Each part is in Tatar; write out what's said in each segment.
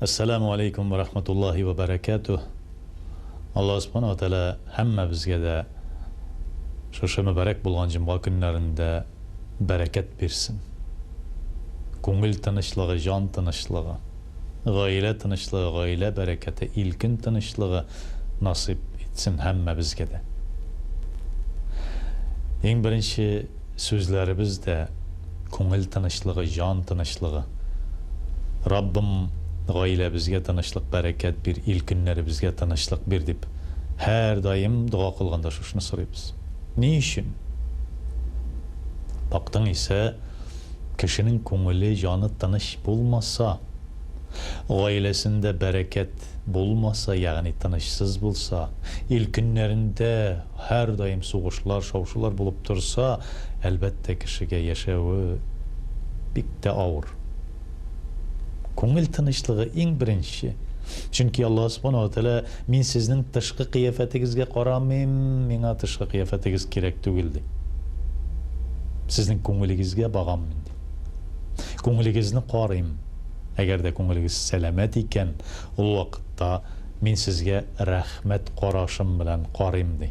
Әссәләмү алейкум вә рахматуллаһи вә бәрәкәтүһ! Аллаһ Субхана уә Тәгалә һәммәбезгә дә шушы мөбарәк булган җомга көннәрендә бәрәкәт бирсен! Күңел тынычлыгы, җан тынычлыгы, гаилә тынычлыгы, гаилә бәрәкәте, ил-көн тынычлыгы насыйп итсен һәммәбезгә дә! Иң беренче. Сүзләребез дә күңел тынычлыгы, җан тынычлыгы. Раббым, гаиләбезгә тынычлык, бәрәкәт бир, ил көннәребезгә тынычлык бир, дип һәрдаим дога кылганда шушны сорыйбыз. Ни өчен? Бактың исә, кешенең күңеле, җаны тыныч булмаса, гаиләсендә бәрәкәт булмаса, ягъни тынычсыз булса, ил көннәрендә һәрдаим сугышлар, шау-шулар булып торса, әлбәттә, кешегә яшәве бик тә авыр. Күңел тынычлыгы иң беренче. Чөнки Аллаһ Субхана ва Тәгалә, Мин сезнең тышкы кыяфәтегезгә карамыйм, миңа тышкы кыяфәтегез кирәк түгел, ди. Сезнең күңелегезгә багам мин, ди. Күңелегезне карыйм. Әгәр дә күңелегез сәламәт икән, ул вакытта мин сезгә рәхмәт карашым белән карыйм, ди.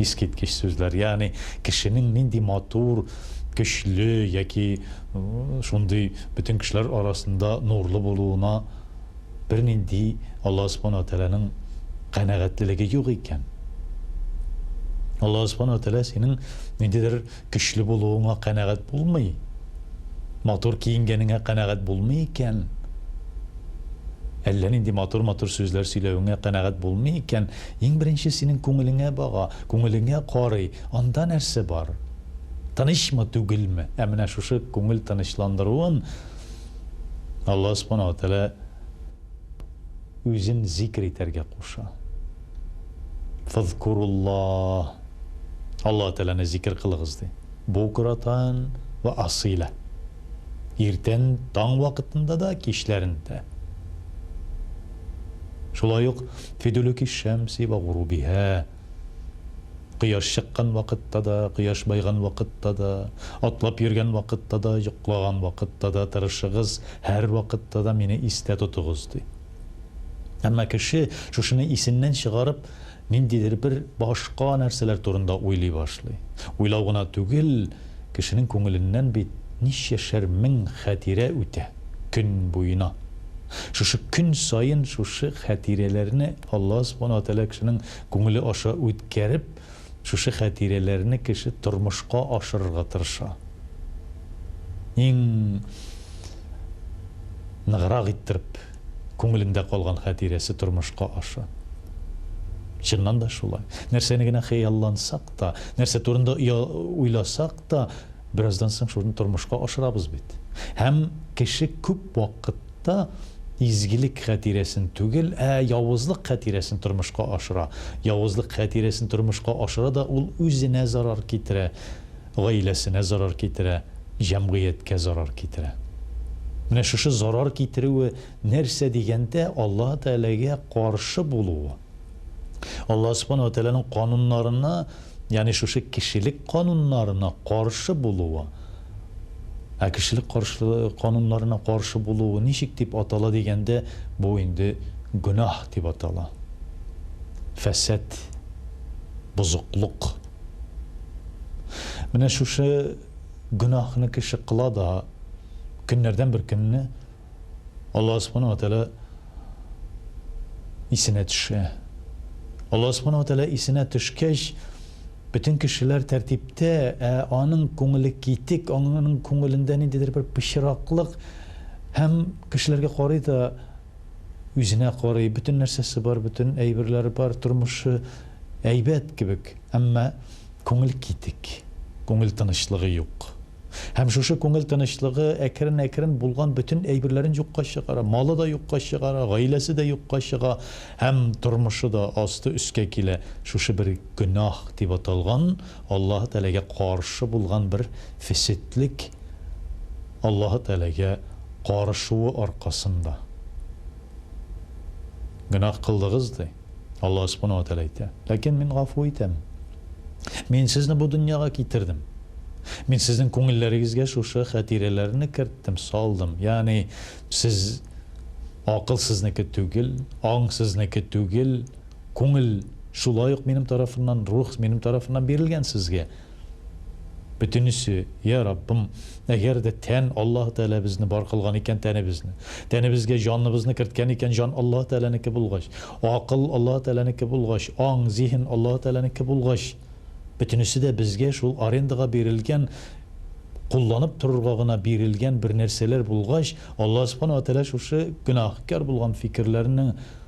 Искиткеч сүзләр. Ягъни, кешенең нинди матур, көчле яки шундый бөтен кешеләр арасында нурлы булуына бернинди Аллаһы Субхана ва Тәгаләнең канәгатьлелеге юк икән. Аллаһы Субхана ва Тәгалә синең ниндидер Көчле булуыңа канәгать булмый, матур киенгәнеңә канәгать булмый икән, әллә нинди матур-матур сүзләр сөйләвеңә канәгать булмый икән, иң беренче синең күңелеңә бага, күңелеңә карый, анда нәрсә бар? Тынычмы, түгелме? Ә менә шушы күңел тынычландыруын Аллаһ Субхана ва Тәгалә Үзен зикер итәргә куша. Фазкуруллаһ. Аллаһ Тәгаләне зикер кылыгыз, ди. Букратан вә асыйлә. Иртән, таң вакытында да, кичләрен дә. Шулай ук фи дулүки шәмси вә гурубиһа. Кояш чыккан вакытта да, кояш байган вакытта да, атлап йөргән вакытта да, йоклаган вакытта да тырышыгыз, һәрвакытта да мине истә тотыгыз, ди. Әмма кеше шушыны исеннән чыгарып, ниндидер бер башка нәрсәләр турында уйлый башлый. Уйлау гына түгел, кешенең күңеленнән бит ничәшәр мең хәтирә үтә, көн буена. Шушы көн саен шушы хәтирәләрне Алла Субхана ва Тәгалә кешенең күңеле аша үткәреп, Шушы хәтирәләрне кеше тормышка ашырырга тырыша. Иң ныграк иттереп күңелендә калган хәтирәсе тормышка аша. Чыннан да шулай. Нәрсәне генә хыяллансак та, нәрсә турында уйласак та, бераздан соң шуны тормышка ашырабыз бит. Һәм кеше күп вакыт. Та изгелек хәтирәсен түгел, ә явызлык хәтирәсен тормышка ашыра. Явызлык хәтирәсен тормышка ашыра да ул үзенә зарар китерә, гаиләсенә зарар китерә, җәмгыятькә зарар китерә. Менә шушы зарар китерүе нәрсә дигәндә, Аллаһы Тәгаләгә каршы булуы. Аллаһы Субхана ва Тәгаләнең кануннарына Ягъни шушы кешелек кануннарына каршы булуы. Ә кешелек каршы кануннарына каршы булуы ничек дип атала дигәндә, бу инде гөнаһ дип атала. Фәсад, бозыклык. Менә шушы гөнаһны кеше кыла да, көннәрдән бер көнне Аллаһ Субхана ва Тәгалә исенә төшә. Аллаһ Субхана ва Тәгалә исенә төшкәч, бөтен кешеләр тәртиптә, ә аның күңеле китек, аңының күңелендә ниндидер бер пычраклык һәм кешеләргә карый да, үзенә карый, бөтен нәрсәсе бар, бөтен әйберләре бар, тормышы әйбәт кебек, әмма күңел китек, күңел тынычлыгы юк. Һәм шушы күңел тынычлыгы әкрен-әкрен булган бөтен әйберләрен юкка чыгара. Малы да юкка чыгара, гаиләсе дә юкка чыга һәм тормышы да асты-өскә килә. Шушы бер гөнаһ дип аталган, Аллаһы Тәгаләгә каршы булган бер фесетлек Аллаһы Тәгаләгә карышуы аркасында. Гөнаһ кылдыгыз, ди. Аллаһ Субхана ва Тәгалә әйтә, Ләкин Мин гафу итәм. Мин сезне бу дөньяга китердем. Мин сезнең күңелләрегезгә шушы хәтирәләрне керттем, салдым. Ягъни, сез, акыл сезнеке түгел, аң сезнеке түгел, күңел шулай ук минем тарафыннан, рух минем тарафыннан бирелгән сезгә. Бөтенесе, Йә, Раббым, әгәр дә тән, Аллаһы Тәгалә безне бар кылган икән тәнебезне, тәнебезгә җаныбызны керткән икән, җан Аллаһы Тәгаләнеке булгач, акыл Аллаһы Тәгаләнеке булгач, аң, зиһен Аллаһы Тәгаләнеке булгач, бөтенесе дә безгә шул арендага бирелгән, кулланып торырга гына бирелгән бер нәрсәләр булгач, Аллаһы Субхана ва Тәгалә шушы гөнаһкар булган фикерләрнең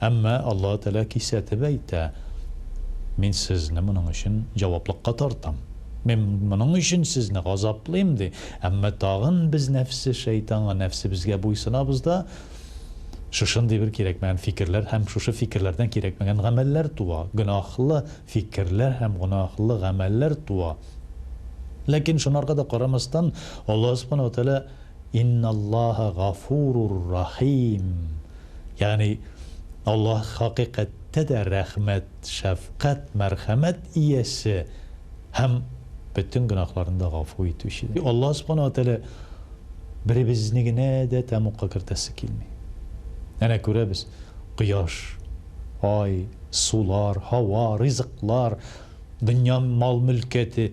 Әмма Аллаһы Тәгалә кисәтеп әйтә, Мин сезне моның өчен җаваплыкка тартам. Мин моның өчен сезне газаплыйм, ди. Әмма тагын без нәфсе шәйтанга, нәфсебезгә буйсынабыз да, шушындый бер кирәкмәгән фикерләр һәм шушы фикерләрдән кирәкмәгән гамәлләр туа, гөнаһлы фикерләр һәм гөнаһлы гамәлләр туа. Ләкин шунарга да карамастан, Аллаһы Субхана ва Тәгалә, Инналлаһа гафурур рахим. Ягъни Аллаһ хакыйкатьтә дә рәхмәт, шәфкать, мәрхәмәт иясе һәм бөтен гөнаһларны да гафу итүче. Аллаһ Субхана ва Тәгалә беребезне генә дә тәмугка кертәсе килми. Әнә күрәбез, кояш, ай, сулар, һава, ризыклар, дөнья мал-мөлкәте.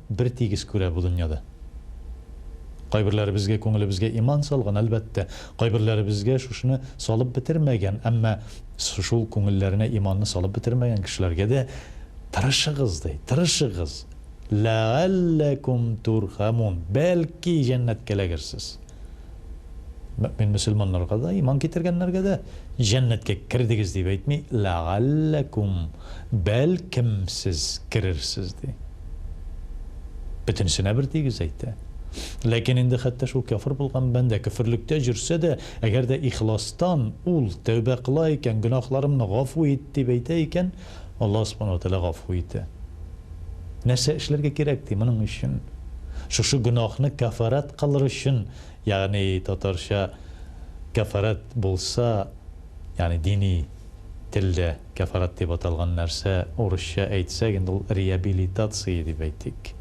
Бертигез күрә бу дөньяда. Кайберләребезгә күңелебезгә иман салган, әлбәттә, кайберләребезгә шушыны салып бетермәгән, әмма шул күңелләренә иманны салып бетермәгән кешеләргә дә тырышыгыз ди, тырышыгыз, ләгалләкүм турхәмүн, бәлки җәннәткә эләгерсез. Мөэмин мөселманнарга да, иман китергәннәргә дә җәннәткә кердегез дип әйтми, ләгалләкүм. Бәлкем, сез керерсез, ди. Бөтенесенә бер тигез әйтә. Ләкин инде хәтта шул кяфер булган бәндә көферлектә җөрсә дә, әгәр дә ихластан ул тәүбә кыла икән, гөнаһларымны гафу ит, дип әйтә икән, Аллаһ Субхана ва Тәгалә гафу итә. Нәрсә эшләргә кирәк, ди, моның өчен? Шушы гөнаһны кәфарәт кылыр өчен, ягъни татарча кәфарәт булса, ягъни дини телдә. Кәфарәт дип аталган нәрсә, урысча әйтсәк, инде ул реабилитация дип әйтик.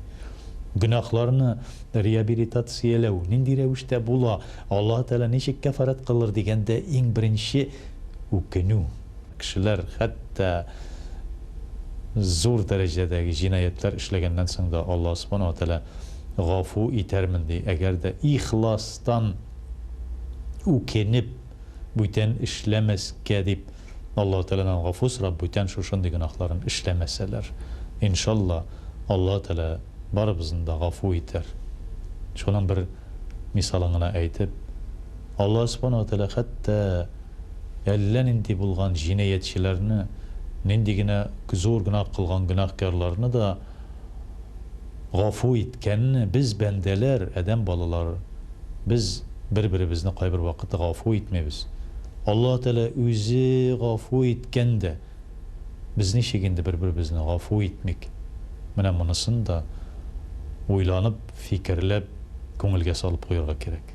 Гөнаһларны реабилитацияләү нинди рәвештә була, Аллаһы Тәгалә ничек кәфарәт кылыр дигәндә, иң беренче үкенү. Кешеләр хәтта зур дәрәҗәдәге җинаятьләр эшләгәннән соң да, Аллаһ Субхана ва Тәгалә гафу итәрмен, ди, әгәр дә ихластан үкенеп, бүтән эшләмәскә дип. Аллаһ Тәгаләнең Гафу сорап бүтән шушындый гөнаһларын эшләмәсәләр. Иншалла, Аллаһ Тәгалә барыбызны да гафу итәр. Шуның бер мисалын гына әйтеп, Аллаһ Субхана ва Тәгалә хәтта әллә нинди булган җинаятьчеләрне, нинди генә зур гөнаһ кылган гөнаһкарларны да, Гафу иткәнне без бәндәләр, Адәм балалары, без бер-беребезне кайбер вакыт гафу итмибез. Аллаһ Тәгалә үзе гафу иткән дә, без ничек инде бер-беребезне гафу итмик? Менә монысын да уйланып, фикерләп, күңелгә салып куярга кирәк.